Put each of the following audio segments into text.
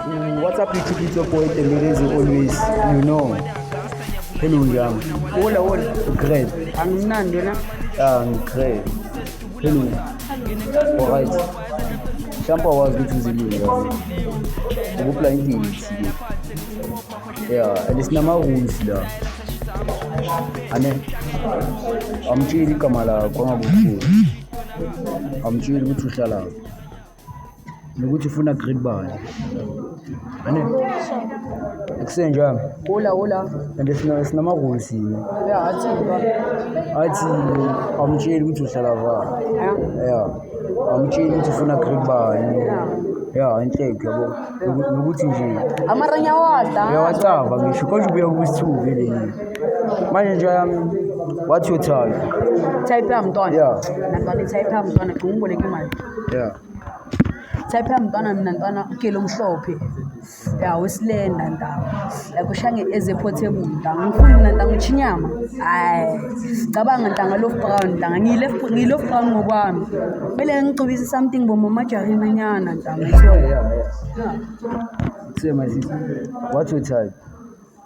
What's up YouTube, it's your boy Emirezi always, you know. Hello njani? Wola wola. Great. Angimnandi wena? Ah, ngigreat. Hello. Alright. Mhlawumbe awazi ukuthi uzilile kahle. Ukupla inkingi. Yeah, and sinama-rules la. Ane. Amtsheli igama lakho angakukhulu. Amtsheli ukuthi uhlalaphi. nokuthi ufuna grade bani ane akusenjani Hola, hola. and sina- sinamahholo sini Ya, athi ba. athi awumtsheli ukuthi uhlala vani Eh, ya awumtsheli ukuthi ufuna grade bani ya inhleke yabo Noku- nokuthi nje Amaranya wadla. uyawacava ngisho konje ubuya kubusithuku leli manje nje yami wathi uthanda Type ya mntwana. Yeah. Nabhale type ya mntwana, gcuma uboleke imali. yeah type yami ntwana mina ntwana ugele omhlophe ya wesilenda ntanga like ushange ezephotable ntanga ngifuni mina ntanga utsho inyama hayi cabanga ntanga lof brown ntanga ngiyilof brown ngokwami kumele ngigcobise something bomamajarinanyana ntanga so yeah, yeah. yeah. Say my sister, what's your type?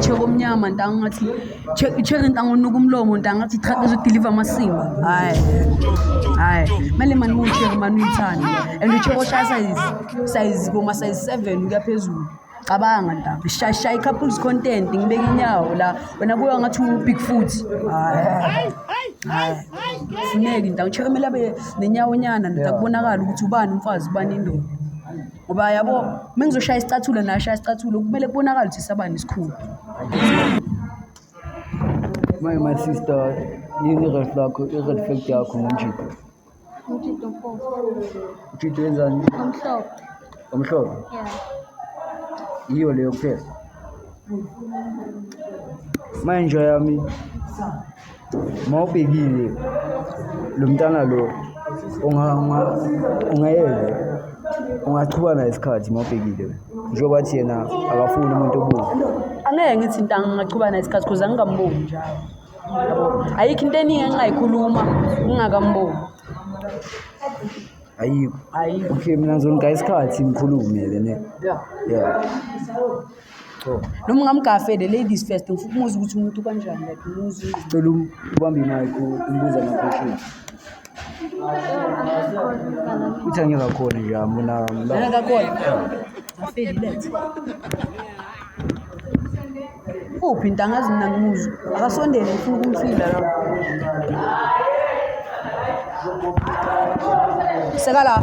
Cheka omnyama ntanga ungathi cheka intanga unuka umlomo ntanga ngathi truck izodeliver amasimba hayi hayi kumele mani mucheke mani uyithande and ucheke oshaya size size koma size seven ukuya phezulu cabanga ntanga shaya i-couples content ngibeka inyawo la wena kuya ngathi u-big foot hayi hayi funeki ntanga ucheke kumele abe nenyawonyana ntakubonakala ukuthi ubani umfazi ubani indoda ngoba yabo uma ngizoshaya isicathulo naye ashaya isicathulo kumele kubonakale ukuthi sabani isikhulu My, my sister, yini i-red flag, i-red flag yakho ngomjito? Umjito mpofu. Umjito wenzani? Omhlophe. Omhlophe? Yeah. Yiyo leyo kuphela. Manje yami. uma ubhekile lo mntana lo ungayeke ungachubana naye isikhathi uma ubhekile wena njengoba athi yena akafuni umuntu obuza angeke ngithi nto angingachubana naye isikhathi kuze angingamboni njalo ayikho into eningi engingayikhuluma ngingakamboni ayikho okay mina ngizoniga isikhathi ngikhulume-ke ne ya Cho. noma ungamgafe the ladies first ngifuna ukumuza ukuthi umuntu kanjani like umuzi Cela um- ubambe i-mic u- umbuze ama-question. Uthi angikakhoni nje hamba unami. Lana kakhona. Afeli lethe. Uphi ntanga zina ngimuzo. Akasondele ngifuna ukumfila la. Seka la.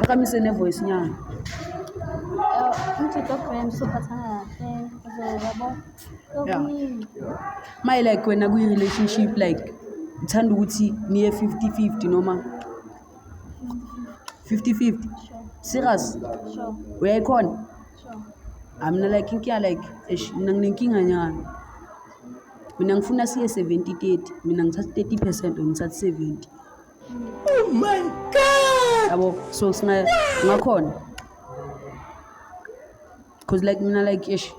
Uqhamise ne-voice nyana. Umjito brand sophathana kahle uzoyabo okuningi Maye like wena kwi-relationship like uthanda ukuthi niye 50-50 noma 50-50. Serious? sure Uyayikhona? sure Ah, mina like inkinga like eish mina nginenkinga nyana. Mina ngifuna siye 70-30. Mina ngithatha 30% wena uthatha 70. Oh my god. Yabo so sina ngakhona. Cause like mina like ish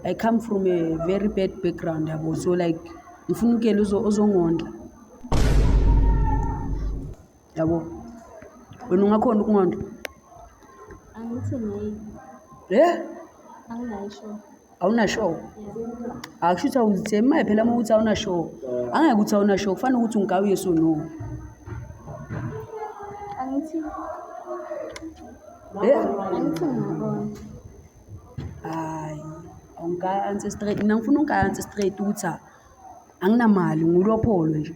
I come from a very bad background yabo so like ngifuna ukuyela uzongondla. Yabo. Wena ungakhona ukungondla? Angithi ngeke. Eh? Anginayo sure. awuna show akusho ukuthi awuzithembi maye phela uma ukuthi awuna show angeke ukuthi awuna show kufanele ukuthi ungawu yes or no angithi eh angithi ngibona hayi awungaya answer straight mina ngifuna ungaya answer straight ukuthi anginamali ngulopholo nje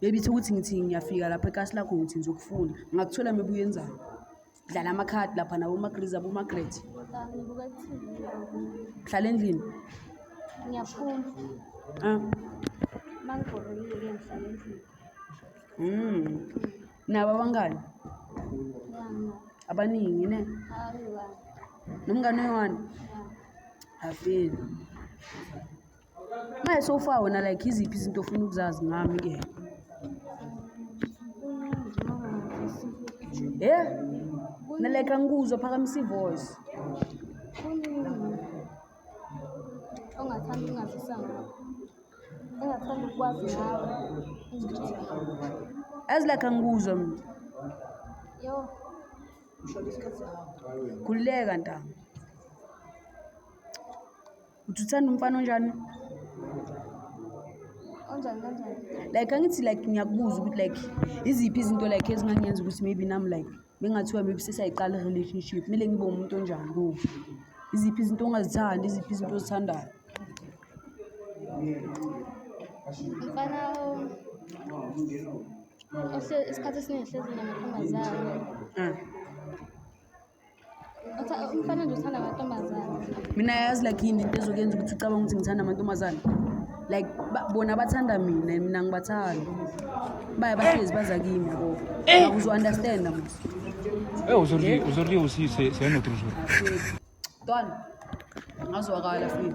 Bebithe ukuthi ngithi ngiyafika lapha ekasi lakho ngithi ngizokufuna. Ngakuthola mebuye enzani? Dlala amakhadi lapha nabo uMagriza boMagret. Ngibuka i-TV. Hlala endlini. Ngiyafunda. Ah. Uma ngibhorekile ke ngihlala endlini. Mm. Nabo abangani Ngiyangena. abaningi ne. Hayi bani. Nomngane wani? Ngiyangena. Afini. Manje sofa wena like iziphi izinto ofuna ukuzazi ngami ke? Eh? Na like angikuzwa phakamisa ivoice. Ongathanda ungazisa ngakho. Engathanda ukwazi ngawe. As like angikuzwa mina. Yo. Khululeka ntanga. Uthi uthanda umfana onjani? Onjani kanjani? Like angithi like ngiyakubuza ukuthi like iziphi izinto like ezingangenza ukuthi maybe nami like bengathiwa maybe sesayiqala i-relationship kumele ngibe umuntu onjani kuwo? Iziphi izinto ongazithandi, iziphi izinto ozithandayo? Umfana isikhathi esiningi ehlezi namantombazane. Ah. umfana nje uthanda amantombazane mina yazi like yini into ezokuyenza ukuthi ucabanga ukuthi ngithanda amantombazane like bona bathanda mina mina ngibathanda baya bahlezi baza kimi yabo eh. uzo-understanda mos e eh, aujourd'hui aujourd'hui aussi c'est un autre jour don ngazwakala fini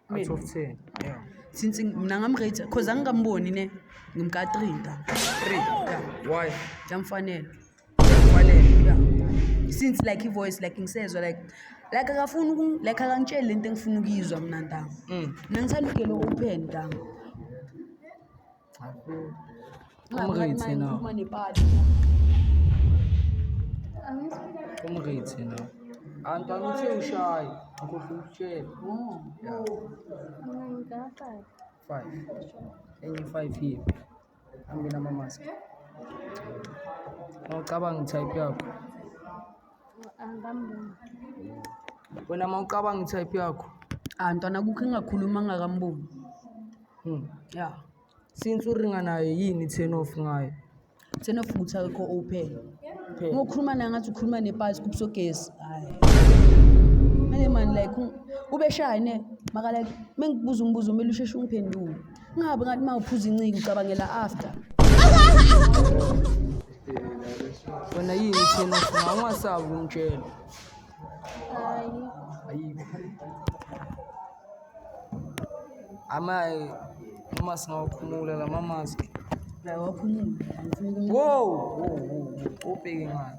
out of 10 yeah since mina ngamrate cause angikamboni ne ngimka 3 da 3 yeah why yamfanele yamfanele yeah since like ivoice like ngisezwa like like akafuni uku like akangitsheli lento engifuna ukuyizwa mina ntanga mm. mina ngithanda ukuyelo open ntanga Umrithi no. Umrithi no. Anti angithi ushaye. Ngikhohle ukutshela. Yeah. Five. Enye five here. Angina mamask. Awucabanga type yakho. Angamboni. Wena mawucabanga i-type yakho. Ah ntwana kukho engakhuluma ngakamboni. Hmm. Yeah. Since uringa naye yini turn off ngayo? Turn off ukuthi akekho open. Phela. Ngokhuluma naye ngathi ukhuluma nepasi kubusogesi. Hayi. Manje man like ubeshaya ne makala mengibuza umbuzo umele usheshe ungiphendule. Ungabe ngathi uma uphuza inciki ucabangela after. Wena yini thina sina ungasabi kumtshela. Hayi. Ayikho. Amaye uma singawakhumula la mamazi. La wakhumula. Wow, wow, wow. Ubheke ngani?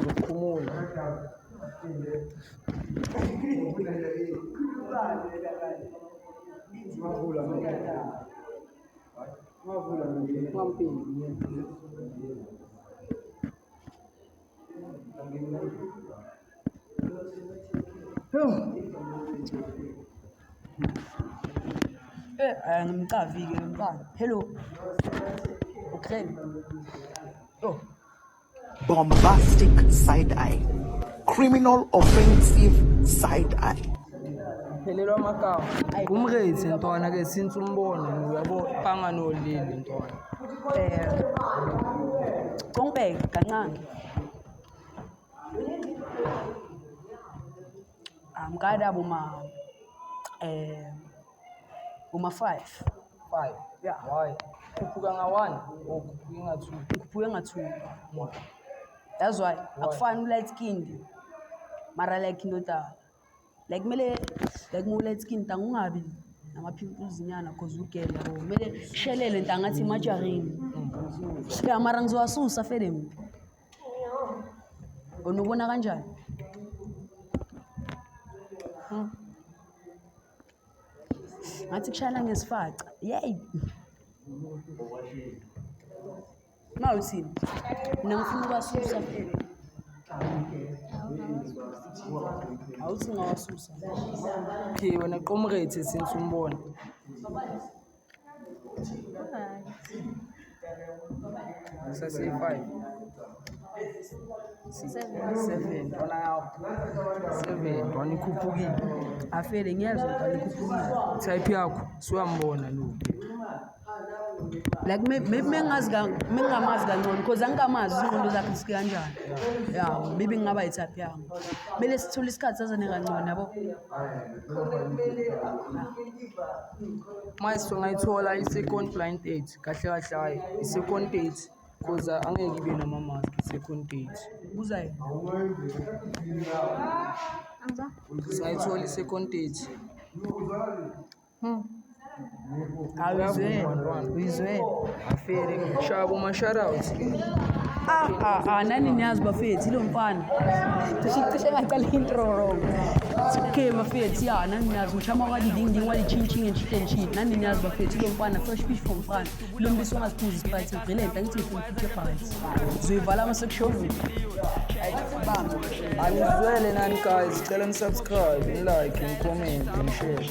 Ukhumula. Eh, angimcavi-ke ngimcavi. Hello. Ukhulele. Oh. bombastic side eye criminal offensive side eye phelelwa amagama ngumrezi ntwana ke since umbono uyabo banganolili ntwana eh Congbeka kancane amkada boma eh Uma five. Five. Yeah. Why? Khuphuka nga one or khuphuke nga two. Khuphuke nga two. Why? That's why. Akufani u-light skinned. Mara like indoda like kumele like mu light skin ntanga ungabi nama-pimples nyana cause ugele yabo kumele shelele ntanga athi imajarini ya mara ngizowasusa fele mina unubona kanjani hmm. ngathi kushayela ngesifaca yeyi ma uthini mina ngifuna ukwasusa phela awuthi ngawasusa okay wena qomrate since umbona Sesiyi-five. Seven, ntwana yakho. Seven, ntwana ikhuphukile. Afele ngiyezwa ntwana ikhuphukile. Type yakho siwambona lo. Like may- maybe mengazi ka- mengingamazi kangcono because angikamazi ingqondo zakhe zike kanjani. Ya, maybe ngingaba yi-type yami. Kumele sithule isikhathi sazane kangcono yabo. Manje singayithola i-second blind date kahle kahle hhayi i-second date cause angeke ibe nama-mask i-second date. Ubuza yini? Singayithola i-second date. Uyizwile? Uyizwile? Aferi shabo mashara Ah ah ah nani niyazi bafethu lo mfana. Cishe cishe ngaqala intro wrong. Okay bafethu ya nani niyazi mshama wa di ding ding wa di ching ching and shit and shit. Nani niyazi bafethu lo mfana fresh fish from mfana. Lo mbiso ongaziphuzi sprite ngicela into ngithi ngifuna iphuthe phansi. Zoyivala ama section. Bamba. Anizwele nani guys, cela nisubscribe, nilike, nicomment, nishare.